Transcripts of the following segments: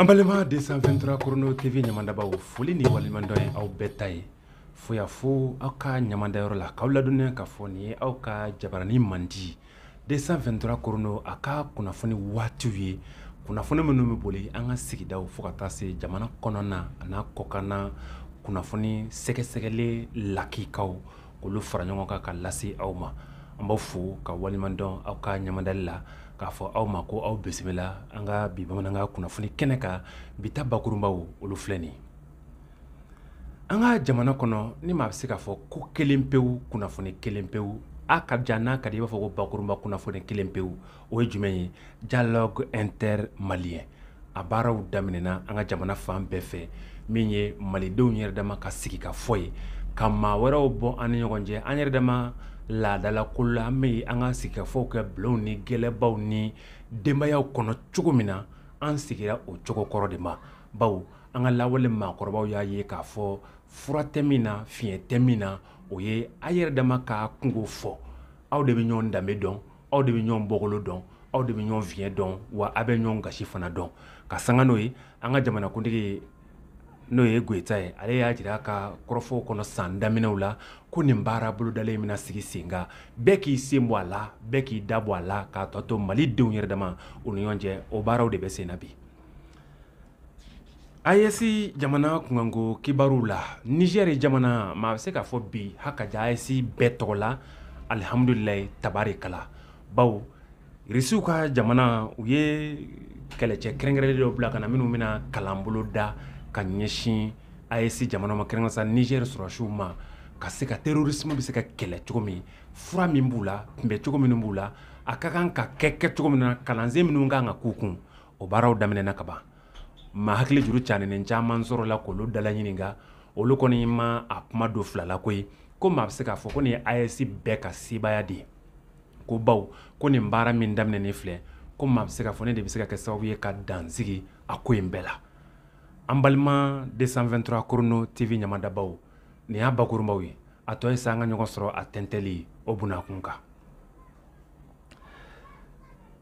An balima 223 Chrono TV ɲɛmandabaaw foli ni waleɲumandɔn ye aw bɛɛ ta ye fo yan fo aw ka ɲɛmandayɔrɔ la k'aw ladɔnniya k'a fɔ nin ye aw ka jabaranin mandi 223 Chrono a ka kunnafoni waatiw ye kunnafoni minnu bɛ boli an ka sigidaw fo ka taa se jamana kɔnɔna an'a kɔkanna kunnafoni sɛgɛsɛgɛlen lakikaw k'olu fara ɲɔgɔn kan ka lase aw ma an b'aw fo k'aw waleɲumandɔn aw ka ɲamadali la k'a fɔ aw ma ko aw bisimila an ka bi bamanankan kunnafoni kɛnɛ kan bi ta bakurunbaw olu filɛ nin ye an ka jamana kɔnɔ ni maa bɛ se k'a fɔ ko kelen pewu kunnafoni kelen pewu a ka jan n'a ka di i b'a fɔ ko bakurunba kunnafoni kelen pewu o ye jumɛn ye dialogue inter malien a baaraw daminɛna an ka jamana fan bɛɛ fɛ min ye malidenw yɛrɛ dama ka sigikafɔ ye ka maa wɛrɛw bɔ an ni ɲɔgɔn cɛ an yɛrɛ dama laadala ko la an bɛ an ka sigikafɔw kɛ bulonw ni gɛlɛbaw ni denbayaw kɔnɔ cogo min na an sigira o cogo kɔrɔ de ma bawo an ka lawale maakɔrɔbaw y'a ye k'a fɔ fura tɛ min na fiɲɛ tɛ min na o ye aw yɛrɛ dama ka kunko fɔ aw de bɛ ɲɔgɔn danbe dɔn aw de bɛ ɲɔgɔn bɔkolo dɔn aw de bɛ ɲɔgɔn fiɲɛ dɔn wa aw bɛ ɲɔgɔn gasi fana dɔn ka sanga n'o ye an ka jamanakuntigi n'o ye Goyita ye ale y'a jira a ka kɔrɔfɔw kɔnɔ san daminɛw la ko nin baara bolodalen bɛna sigi sen kan bɛɛ k'i sen bɔ a la bɛɛ k'i da bɔ a la k'a tɔ to malidenw yɛrɛ dama u ni ɲɔgɔn cɛ o baaraw de bɛ sen na bi AES jamana kunkanko kibaruw la Nizɛri jamana maa bɛ se k'a fɔ bi ha ka ja AES bɛɛ tɔgɔ la alihamdulilayi tabarikala bawo Irisiw ka jamana u ye kɛlɛcɛ kɛrɛnkɛrɛnnen dɔw bila ka na minnu bɛna kalan boloda ka ɲɛsin AES jamana ma kɛrɛnkɛrɛnnen sa Nizɛri sɔrɔdasiw ma ka se ka terorisiw bɛ se ka kɛlɛ cogo min fura min b'u la kunbɛncogo minnu b'u la a ka kan ka kɛ cogo min na kalansen minnu ka kan ka k'u kun o baaraw daminɛna ka ban maa hakili juru caaninen caman sɔrɔla k'olu dalaɲininka olu kɔni ma a kuma don fila la koyi ko maa bɛ se k'a fɔ ko nin ye AES bɛɛ ka sebaaya de ye ko bawo ko nin baara min daminɛnen filɛ ko maa bɛ se k'a fɔ nin de bɛ se ka kɛ sababu ye ka dan sigi a ko in bɛɛ la an balima 223 Chrono TV ɲamadabaw nin y'a bakurunbaw ye a tɔ ye sa an ka ɲɔgɔn sɔrɔ a tɛntɛli o bunakun kan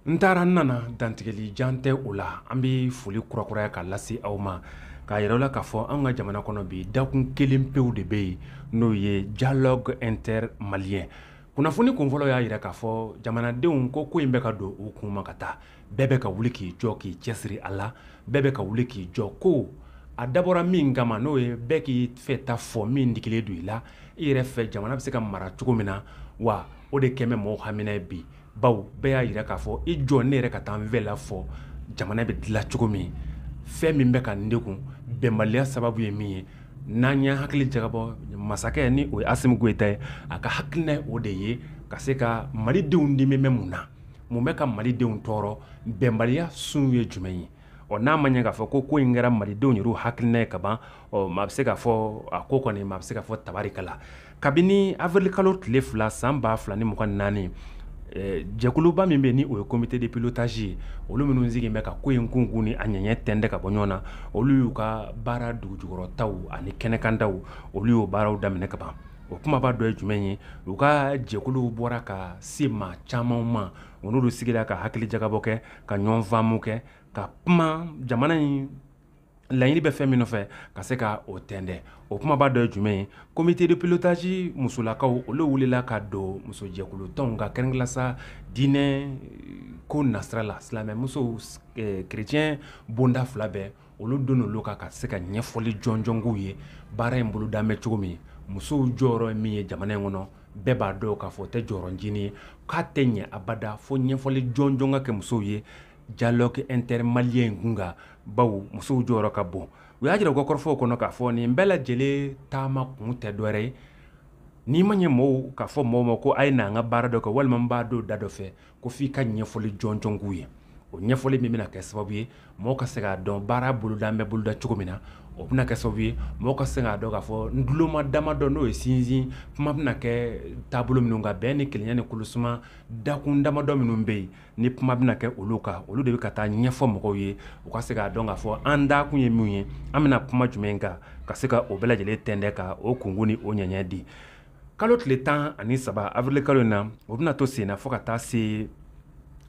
n taara n nana dantigɛli jan tɛ o la an bɛ foli kurakuraya ka lase aw ma k'a jira aw la k'a fɔ an ka jamana kɔnɔ bi dakun kelen pewu de bɛ yen n'o ye dialogue inter malien kunnafoni kunfɔlɔ y'a jira k'a fɔ jamanadenw ko ko in bɛ ka don u kun ma ka taa bɛɛ bɛ ka wuli k'i jɔ k'i cɛsiri a la bɛɛ bɛ ka wuli k'i jɔ ko a dabɔra min kama n'o ye bɛɛ k'i fɛ ta fɔ min digilen don i la i yɛrɛ fɛ jamana bɛ se ka mara cogo min na wa o de kɛlen bɛ mɔgɔw hamina ye bi bawo bɛɛ y'a jira k'a fɔ i jɔ ne yɛrɛ ka taa n fɛla fɔ jamana bɛ dilan cogo min fɛn min bɛ ka n degun bɛnbaliya sababu ye min ye n'an y'an hakili jagabɔ masakɛ ni o ye Asimi Goyita ye a ka hakilina ye o de ye ka se ka malidenw dimi bɛ mun na mun bɛ ka malidenw tɔɔrɔ bɛnbaliya sun ye jumɛn ye ɔ n'a ma ɲɛ k'a fɔ ko ko in kɛra malidenw yɛrɛ hakilina ye ka ban ɔ maa bɛ se k'a fɔ a ko kɔni maa bɛ se k'a fɔ tabarikala kabini avril kalo tile fila san ba fila ni mugan ni naani eh, jɛkuluba min bɛ ni o ye comité de pilotage ye olu minnu sigilen bɛ ka ko in kunkun ni a ɲɛɲɛ tɛntɛn ka bɔ ɲɔgɔn na olu y'u ka baara dugujukɔrɔtaw ani kɛnɛkantaw olu y'o baaraw daminɛ ka ban o kumaba dɔ ye jumɛn ye u ka jɛkuluw bɔra ka se maa caman ma u n'olu sigira ka hakili jagabɔ kɛ ka ɲɔgɔn faamu kɛ ka kuma jamana in laɲini bɛ fɛn min nɔfɛ ka se ka o tɛntɛn o kumaba dɔ ye jumɛn ye comité de pilotage musolakaw olu wulila ka don musojɛkulu tɔnw kan kɛrɛnkɛrɛnnenya la sa diinɛ ko nasira la silamɛmuso kerecɛn bonda fila bɛɛ olu don olu kan ka se ka ɲɛfɔli jɔnjɔn k'u ye baara in bolodalen bɛ cogo min musow jɔyɔrɔ ye min ye jamana in kɔnɔ bɛɛ b'a dɔn k'a fɔ o tɛ jɔyɔrɔncinin ye k'a tɛ ɲɛ abada fo ɲɛfɔli jɔnjɔn ka kɛ musow ye dialogue intermalien kun kan bawo musow jɔyɔrɔ ka bon u y'a jira u ka kɔrɔfɔw kɔnɔ k'a fɔ nin bɛɛ lajɛlen taama kun tɛ dɔwɛrɛ ye n'i ma ɲɛ mɔgɔw k'a fɔ mɔgɔw ma ko a ye n'an ka baara dɔ kɛ walima n b'a don da dɔ fɛ ko f'i ka ɲɛfɔli jɔnjɔn k'u ye o ɲɛfɔli min bɛna kɛ sababu ye mɔgɔ ka se k'a dɔn baara bolodalen bɛ boloda cogo min na o bɛna kɛ sababu ye mɔgɔ ka se k'a dɔn k'a fɔ ntuloma damadɔ n'o ye sinsin kuma bɛna kɛ taabolo minnu kan bɛn ni kelenya ni kolosuma dakun damadɔ minnu bɛ yen ni kuma bɛna kɛ olu kan olu de bɛ ka taa ɲɛfɔ mɔgɔw ye u ka se k'a dɔn k'a fɔ an dakun ye min ye an bɛna kuma jumɛn kan ka se ka o bɛɛ lajɛlen tɛntɛn ka o kunkun ni o ɲɛɲɛ di kalo tile tan ani saba avril kalo in na o bɛna to senna fo ka taa se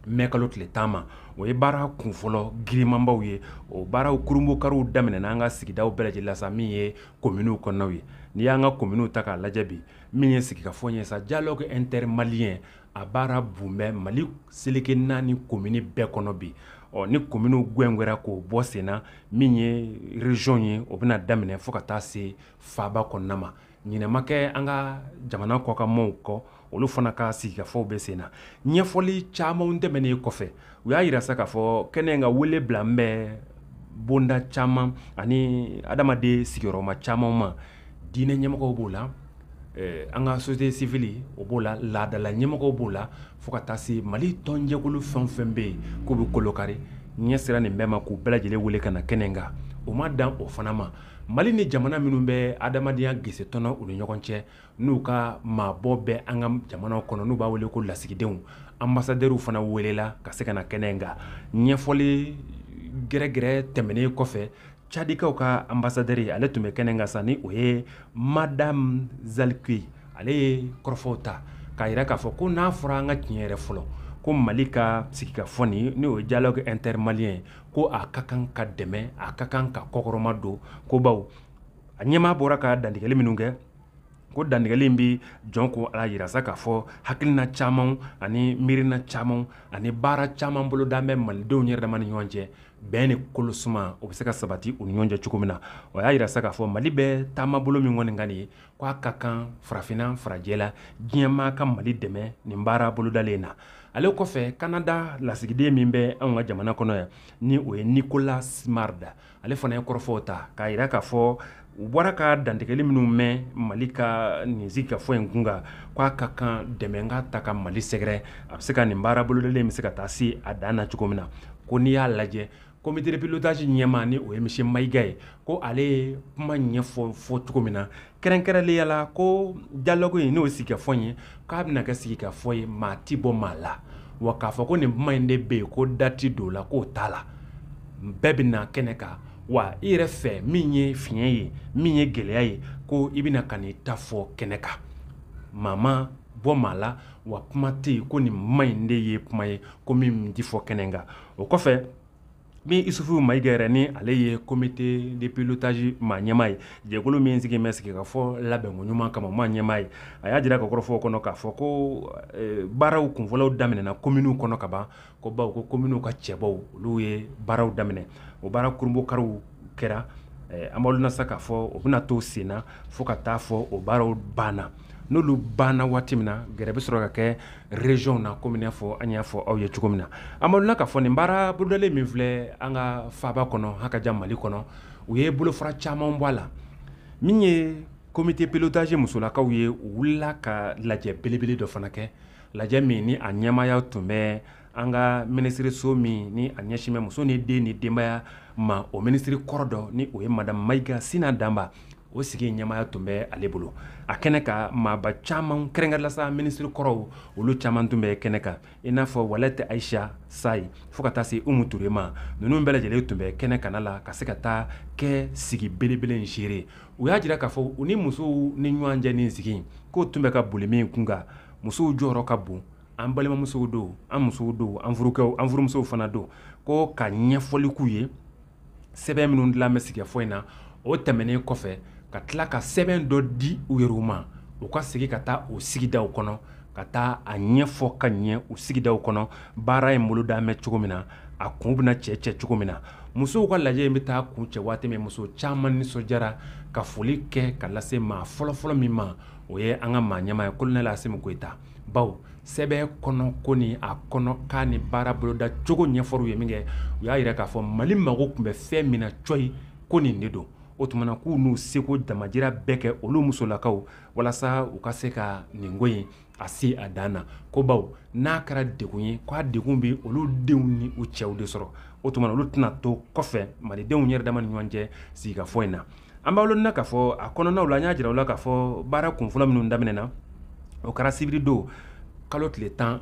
mɛ kalo tile tan ma o ye baara kunfɔlɔ girimanbaw ye o baaraw kurunbokariw daminɛna an ka sigidaw bɛɛ lajɛlen la sa min ye kominiw kɔnɔnaw ye n'i y'an ka kominiw ta k'a lajɛ bi min ye sigikafɔ ye sa dialogue intermalien a baara bun bɛ mali seleke naani komini bɛɛ kɔnɔ bi ɔ ni kominiw gwɛngwɛra k'o bɔ senna min ye région ye o bɛna daminɛ fo ka taa se faaba kɔnɔna ma ɲinɛ ma kɛ an ka jamana kɔkanmaw kɔ olu fana ka sigikafɔw bɛ sen na ɲɛfɔli camanw tɛmɛnen kɔfɛ u y'a yira sa k'a fɔ kɛnɛ in ka wele bilalen bɛ bonda caman ani adamaden sigiyɔrɔma caman ma diinɛ ɲɛmɔgɔw b'o la eh, an ka société civile o b'o la laadala ɲɛmɔgɔw b'o la fo ka taa se mali tɔnjɛkulu fɛn o fɛn bɛ yen k'u bɛ kolokari ɲɛ sera nin bɛɛ ma k'u bɛɛ lajɛlen wele ka na kɛnɛ kan o ma dan o fana ma Mali ni jamana minnu bɛ adamadenya gese tɔnɔ u ni ɲɔgɔn cɛ n'u ka maabɔ bɛ an ka jamana kɔnɔ n'u b'a wele ko lasigidenw ambassadeurw fana welela ka se ka na kɛnɛ in kan ɲɛfɔli gɛrɛgɛrɛ tɛmɛnen kɔfɛ cadikaw ka ambassadeur ale tun bɛ kɛnɛ in kan sa ni o ye madame zaliki ale ye kɔrɔfɔw ta k'a yira k'a fɔ ko n'a fɔra an ka tiɲɛ yɛrɛ fɔlɔ ko mali ka sigikafɔ n'o ye dialogue intermalien ko a ka kan ka dɛmɛ a ka kan ka kɔkɔrɔmadon ko bawo a ɲɛmaa bɔra ka dantigɛli minnu kɛ ko dantigɛli in bɛ jɔn k'a yira sa k'a fɔ hakilina caman ani miirina caman ani baara caman boloda bɛ malidenw yɛrɛ dama ni ɲɔgɔn cɛ bɛn ni kolosuma o bɛ se ka sabati u ni ɲɔgɔn cɛ cogo min na o y'a yira sa k'a fɔ mali bɛ taama bolo min kɔni kan nin ye k' a ka kan farafinna farajɛla diɲɛmaa ka mali dɛmɛ nin baara bolodalen na ale kɔfɛ kanada lasigiden min bɛ anw ka jamana kɔnɔ yan ni o ye Nicolas Simard ale fana ye kɔrɔfɔw ta k'a yira k'a fɔ u bɔra ka dantigɛli minnu mɛn mali ka nin sigikafɔ in kun kan k' a ka kan dɛmɛ ka taa ka mali sɛgɛrɛ a bɛ se ka nin baara bolodalen bɛ se ka taa se a dan na cogo min na ko n'i y'a lajɛ Comité de pilotage ɲɛmaa ni o ye monsieur Mayiga ye, ko ale ye kuma ɲɛfɔ cogo min na kɛrɛnkɛrɛnnenya la ko dialogue in n'o ye sigikafɔ ye k'a bɛna kɛ sigikafɔ ye maa tɛ bɔ maa la wa k'a fɔ ko nin kuma in de bɛ yen ko da tɛ don o la k'o t'a la bɛɛ bɛ na kɛnɛ kan wa i yɛrɛ fɛ min ye fiɲɛ ye min ye gɛlɛya ye ko i bɛna ka n'i ta fɔ kɛnɛ kan maa ma bɔ maa la wa kuma tɛ yen ko nin kuma in de ye kuma ye ko min tɛ fɔ kɛnɛ kan o kɔfɛ min Isufu Mayiga yɛrɛ ni ale ye comité de pilotage maa ɲɛmaa ye jɛkulu min sigi bɛ sigikafɔ labɛnko ɲuman kama maa ɲɛmaa ye a y'a jira ka kɔrɔfɔ kɔnɔ k'a fɔ ko baaraw kunfɔlɔw daminɛna kominiw kɔnɔ ka ban ko baw ko kominiw ka cɛbɔw olu ye baaraw daminɛ o baara kurunbonkari kɛra an b'a dɔn sa k'a fɔ o bɛna to senna fo ka taa fɔ o baaraw banna n'olu banna waati min na gɛrɛ bɛ sɔrɔ ka kɛ regionw na komi n'a fɔ an y'a fɔ aw ye cogo min na an b'aw la k'a fɔ nin baara bolodalen min filɛ an ka faaba kɔnɔ hakaja mali kɔnɔ u ye bolofara caman bɔ a la min ye comité pilotage musolakaw ye u wulila ka lajɛ belebele dɔ fana kɛ lajɛ min ni a ɲɛmaaya tun bɛ an ka minisiriso min ni a ɲɛsin bɛ muso ni den ni denbaya ma o minisiri kɔrɔ dɔ ni o ye madamu mayiga sina danba o sigi ɲɛmaya tun bɛ ale bolo a kɛnɛ kan maaba caman kɛrɛnkɛrɛnla sa minisiri kɔrɔw olu caman tun bɛ kɛnɛ kan i n'a fɔ alwata ayisa sayi fo ka taa se umu ture ma ninnu bɛɛ lajɛlen tun bɛ kɛnɛ kana la ka se ka taa kɛ sigi belebele in seere u y'a jira k'a fɔ u ni musow ni ɲɔgɔn cɛ nin sigi k'o tun bɛ ka boli min kun kan musow jɔyɔrɔ ka bon an balimamusow don an musow don an furukɛw an furumusow fana don ko ka ɲɛfɔli k'u ye sɛbɛn minnu dilan bɛ sigikafɔ in na o tɛmɛnen kɔfɛ ka tila ka sɛbɛn dɔ di u yɛrɛw ma u ka segin ka taa u sigidaw kɔnɔ ka taa a ɲɛfɔ ka ɲɛ u sigidaw kɔnɔ baara in bolodalen bɛ cogo min na a kun bɛna cɛ cɛ cogo min na musow ka lajɛ in bɛ taa kuncɛ waati min muso caman nisɔndiyara ka foli kɛ ka lase maa fɔlɔfɔlɔ min ma o ye an ka maa ɲɛmaa ye kolonɛli asimi goyita baw sɛbɛn kɔnɔko ni a kɔnɔkan ni baara boloda cogo ɲɛfɔr'u ye minkɛ u y'a jira k'a fɔ mali mago tun bɛ fɛn min na coyi ko nin de don o tumana k'u n'u seko damajira bɛɛ kɛ olu musolakaw walasa u ka se ka nin ko in a se a dan na ko baw n'a kɛra degun ye k'a degun bɛ olu denw ni u cɛw de sɔrɔ o tumana olu tɛna to kɔfɛ malidenw yɛrɛ dama ni ɲɔgɔn cɛ sigikafɔ in na An b'aw lɔnni na k'a fɔ a kɔnɔnaw la, an y'a jira aw la k'a fɔ baara kunfɔlɔ minnu daminɛna, o kɛra sibiri don kalo tile 13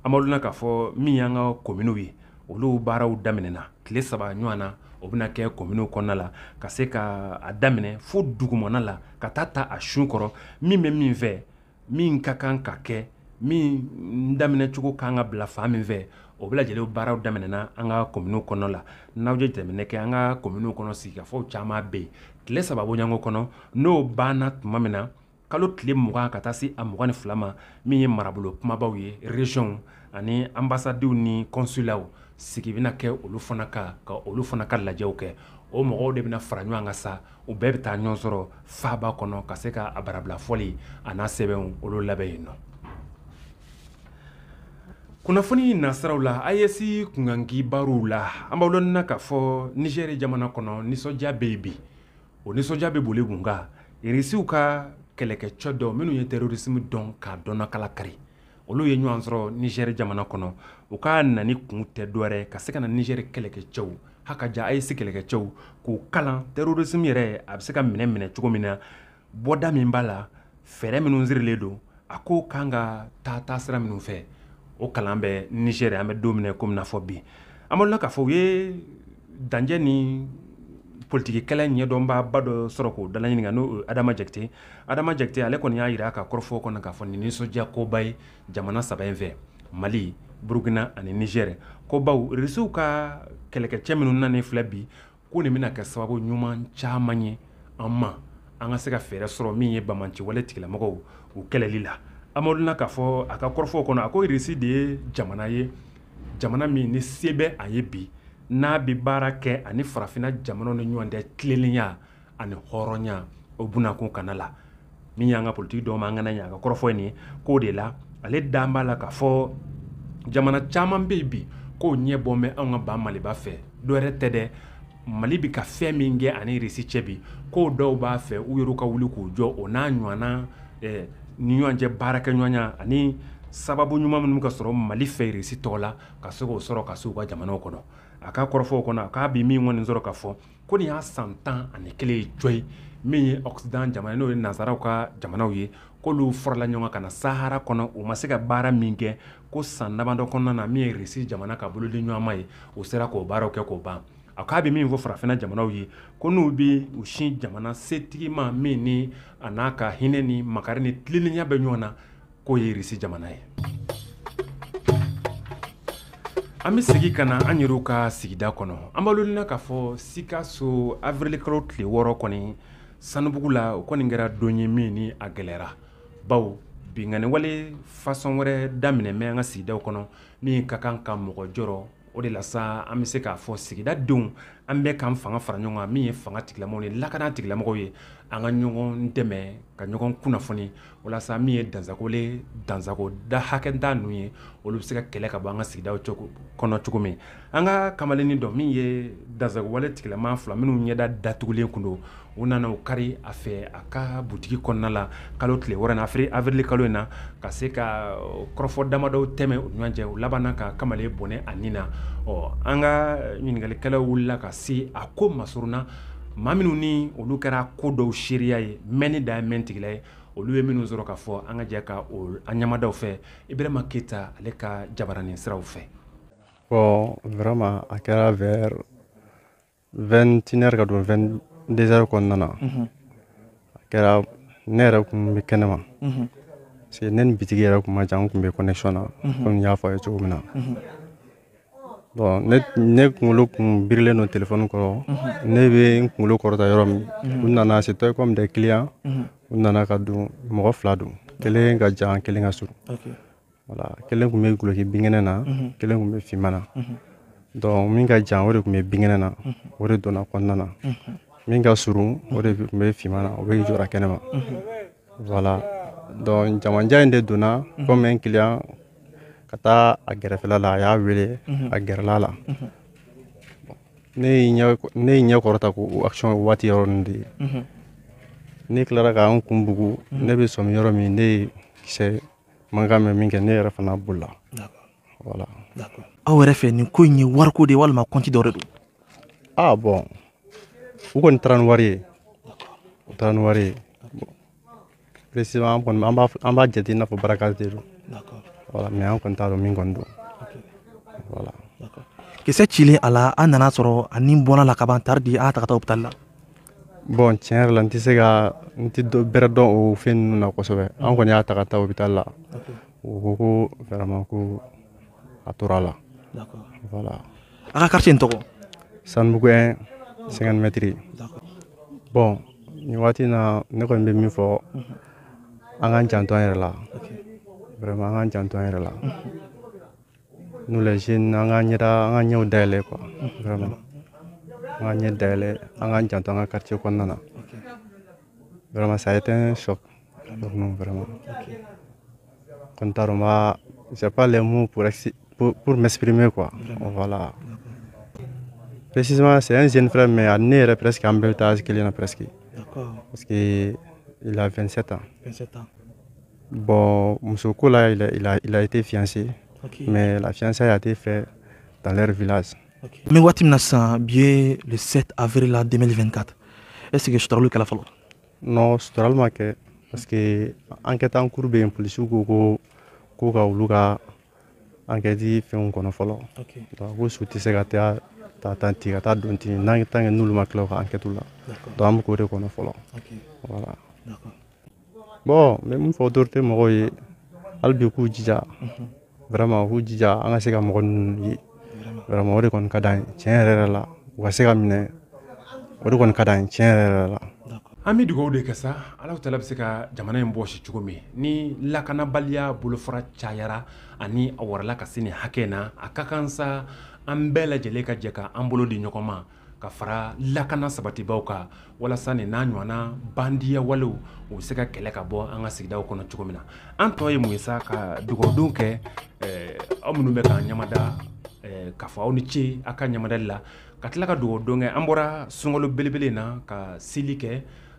an b'aw lɔnni na k'a fɔ min y'an ka kominiw ye, olu baaraw daminɛna tile saba ɲɔgɔn na, o bɛna kɛ kominiw kɔnɔna la ka se ka a daminɛ fo dugumana la ka taa ta a sun kɔrɔ min bɛ min fɛ min ka kan ka kɛ min daminɛ cogo kan ka bila fan min fɛ o bɛɛ lajɛlen baaraw daminɛna an ka kominiw kɔnɔ la n'aw ye jateminɛ kɛ an ka kominiw kɔnɔ sigikafɔw caman bɛ yen tile saba bɔɲɔgɔnko kɔnɔ n'o banna tuma min na kalo tile mugan ka taa se a mugan ni fila ma min ye marabolo kunbabaw ye reziyɔnw ani anbasadiw ni kɔnsulaw sigi bɛna kɛ olu fana kan ka olu fana ka lajɛw kɛ o mɔgɔw de bɛna fara ɲɔgɔn kan sa u bɛɛ bɛ taa ɲɔgɔn sɔrɔ faaba kɔnɔ ka se ka a barabila fɔli an'a sɛbɛnw olu labɛn yen nɔ kunnafoni nasiraw la ayɛsi kunkan kibaruw la an b'aw lɔnni na k'a fɔ nizɛri jamana kɔnɔ nisɔndiya bɛ yen bi o nisɔndiya bɛ boli mun kan irisiw ka kɛlɛkɛcɛ dɔ minnu ye tɛrorisimu dɔn k'a dɔnnakala kari olu ye ɲɔgɔn sɔrɔ nizɛri jamana kɔnɔ u ka nani kun tɛ dɔwɛrɛ ka se ka na nizɛri kɛlɛkɛcɛw hakaja ayɛsi kɛlɛkɛcɛw k'u kalan terrorisme yɛrɛ a bɛ se ka minɛ minɛ cogo min na bɔda min b'a la fɛɛrɛ minnu sirilen don a ko kan ka taa taa sira minnu fɛ o kalan bɛ nizɛri an bɛ don min na komi n'a fɔ bi an b'aw lɔnni na k'a fɔ u ye danjɛ ni politiki kɛlɛ ɲɛdɔnbaaba dɔ sɔrɔ k'o dalaɲininka n'o adama jakite adama jakite ale kɔni y'a jira a ka kɔrɔfɔ kɔnɔ k'a fɔ nin nisɔndiya koba ye jamana saba in fɛ mali burukina ani nizɛrɛ ko bawo risiw ka kɛlɛkɛcɛ minnu nani filɛ bi ko nin bɛna kɛ sababu ɲuman caman ye an ma an ka se ka fɛɛrɛ sɔrɔ min ye banbaanciwale tigilamɔgɔw u kɛlɛli la amaduna k'a fɔ a ka kɔrɔfɔw kɔnɔ a ko risi de ye jamana ye jamana min ni se bɛ a ye bi n'a bɛ baara kɛ ani farafina jamanaw ni ɲɔgɔn cɛ tilennenya ani hɔrɔnya o bunakun kana la min y'an ka politiki dɔw ma an kana ɲa a ka kɔrɔfɔ ye nin ye k'o de la ale dalen b'a la k'a fɔ jamana caman bɛ yen bi k'u ɲɛ bɔ bɛ anw ka ba maliba fɛ dɔwɛrɛ tɛ dɛ mali bɛ ka fɛn min kɛ ani risi cɛ bi ko dɔw b'a fɛ u yɛrɛ ka wuli k'u jɔ o n'a ɲɔgɔnna eh, ni ɲɔgɔn cɛ baarakɛɲɔgɔnya ani sababu ɲuman minnu ka sɔrɔ mali fɛ risi tɔgɔ la ka se k'o sɔrɔ ka se u ka jamanaw kɔnɔ a ka kɔrɔfɔw kɔnɔ a k'a bi min kɔni sɔrɔ k'a fɔ ko nin y'a san tan ani kelen ye jɔ ye min ye occident jamana n'o ye nansaraw ka jamanaw ye k'olu farala ɲɔgɔn ka na sahara kɔnɔ u ma se ka baara min kɛ ko san damadɔ kɔnɔna na min ye risi jamana ka bolodi ɲɔgɔnma ye u sera k'o baaraw kɛ k'o ban a k'a bɛ min fɔ farafina jamanaw ye ko n'u bɛ u sin jamana setigi ma min ni a n'a ka hinɛ ni makari ni tilennenya bɛ ɲɔgɔn na k'o ye irisi jamana ye an bɛ segin ka na an yɛrɛw ka sigida kɔnɔ an b'aw lɔnniya k'a fɔ sikaso avrilikalo tile wɔɔrɔ kɔni sanubugu la o kɔni kɛra don ye min ni a gɛlɛyara bawo binkanniwale fasɔn wɛrɛ daminɛ bɛ an ka sigidaw kɔnɔ min ka kan ka mɔgɔ jɔrɔ o de la sa an bɛ se k'a fɔ sigida denw an bɛɛ k'an fanga fara ɲɔgɔn kan min ye fanga tigilamɔgɔw ni lakana tigilamɔgɔw ye an ka ɲɔgɔn dɛmɛ ka ɲɔgɔn kunnafoni walasa min ye dansagolen dansago da hakɛda ninnu ye olu bɛ se ka kɛlɛ ka bɔ an ka sigidaw kɔnɔ cogo min an ka kamalennin dɔ min ye dansagowale tigilama fila minnu ɲɛda datugulen kun don u nana u kari a fɛ a ka butigi kɔnɔna la kalo tile wɔɔrɔ na afiri avrili kalo in na ka se ka kɔrɔfɔ damadɔw tɛmɛ u ɲɔgɔn cɛ u labanna ka kamalen bɔnɛ a ni na ɔ an ka ɲininkalikɛlaw wulila ka se a ko masurunna maa minnu ni olu kɛra ko dɔw seereya ye mɛnni da mɛn tigila ye olu bɛ minnu sɔrɔ k'a fɔ an ka jɛ ka an ɲɛ mada u fɛ ibrahima keyita ale ka jabaranin siraw fɛ ɔ vraiment a kɛra vers vingt-et-une heures ka don vingt-deux heures kɔnɔna na mhm. a kɛra ne yɛrɛ kun bɛ kɛnɛ ma mhm. parce que ne ni bitigi yɛrɛ kun ma jan n kun bɛ connexion na mhm. komi n y'a fɔ a ye cogo min na bon ne ne kunkolo kun birilen don telefɔni kɔrɔ ne bɛ n kunkolo kɔrɔta yɔrɔ min u nana c'était comme des clients u nana ka don mɔgɔ fila don kelen ka jan kelen ka surun voilà kelen tun bɛ goloki binkɛnɛ na mhm. kelen tun bɛ finman na mhm. donc min ka jan o de tun bɛ binkɛnɛ na mhm. o de donna kɔnɔna na min ka surun o de tun bɛ finman na o bɛ jɔra kɛnɛ ma voilà donc jamanja in de donna comme un client ka taa a gɛrɛfɛla la a y'a wele a gɛrɛla la ne ye n ɲɛ kɔrɔta ko o action waati yɔrɔ nin de ye ne tilara ka n kun bugu ne bɛ sɔmi yɔrɔ min ne ye kisɛ mankan mɛn minkɛ ne yɛrɛ fana bolila voilà aw yɛrɛ fɛ nin ko in ye wariko de ye walima compte dɔ de don ah bon u kɔni taara ni wari ye u taara ni wari ye précisément an kɔni an b'a an b'a jate i n'a fɔ braquage de don voilà mais an kɔni t'a dɔn min kɔni don voilà kisɛ cilen a la an nana a sɔrɔ a ni bɔra a la kaban tari di an y'a ta ka taa hôpital la bon tiɲɛ yɛrɛ la n tɛ se ka n tɛ bɛrɛ dɔn o fɛn ninnu na kosɛbɛ an kɔni y'a ta ka taa hôpital la u ko ko vraiment ko a tora a la voilà a ka quartier in tɔgɔ sanubugu 1 50 mètres bon nin waati in na ne kɔni bɛ min fɔ an k'an janto an yɛrɛ la vraiment an k'an janto an yɛrɛ la Nous les jeunes, an k'an ɲɛda an k'an ɲɛw dayɛlɛ quoi vraiment an k'an ɲɛ dayɛlɛ an k'an janto an ka quartier kɔnɔna na vraiment ça a été un choc pour nous vraiment n kɔni t'a dɔn n b'a j'ai pas les mots pour pour, pour m'exprimer quoi voilà précisément c'est un jeune frère mais a ne yɛrɛ presque an bɛɛ bɛ taa âge kelen na presque parce que il a 27 ans 27 ans Bon, muso ko la, il a, il a, il a été fiancé. Okay. Mais la fiançailles a été faite dans leur village. Okay. Mais waati min na sisan bi ye le 7 avril 2024 est ce que suturali kɛla fɔlɔ. non suturali ma kɛ parce que enquête en cours bɛ yen polisiw ko ko ko ka olu ka enquête fɛnw kɔnɔ fɔlɔ. ok donc ko su tɛ se ka taa taa tan ten ka taa don ten en tant que n'olu ma tila u ka enquête la. d'accord donc an bɛ k'o de kɔnɔ fɔlɔ. ok voilà. d'accord. bon n bɛ min fɔ autorité mɔgɔw ye hali bi k'u jija vraiment k'u jija an ka se ka mɔgɔ ninnu ye vraiment o de kɔni ka d'an ye tiɲɛ yɛrɛ yɛrɛ la u ka se ka minɛ o de kɔni ka d'an ye tiɲɛ yɛrɛ yɛrɛ la an bɛ dugawu de kɛ sa ala tala bɛ se ka jamana in bɔsi cogo min ni lakanabaliya bolofara cayara ani a warala ka se nin hakɛ in na a ka kan sa an bɛɛ lajɛlen ka jɛ ka an bolo di ɲɔgɔn ma ka fara lakana sabatibaaw kan walasa nin n'a ɲɔgɔnna bandiya walew u bɛ se ka kɛlɛ ka bɔ an ka sigidaw kɔnɔ cogo min na an tɔ ye mun ye sa ka dugawudon kɛ eh, aw minnu bɛ k'an ɲamada eh, k'a fɔ aw ni ce aw ka ɲamadali la ka tila ka dugawudon kɛ an bɔra sunkalo belebele in na ka seli kɛ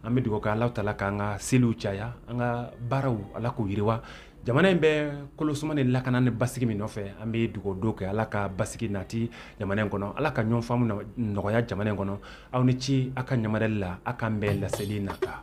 an bɛ dugawu kɛ ala tala k'an ka seliw caya an ka baaraw ala k'u yiriwa jamana in bɛ kolosuma ni lakana ni basigi min nɔfɛ an bɛ dugawu don kɛ ala ka basigi nati jamana in kɔnɔ ala ka ɲɔgɔn faamu nɔgɔya jamana in kɔnɔ aw ni ci aw ka ɲamadali la aw k'an bɛn laseli nata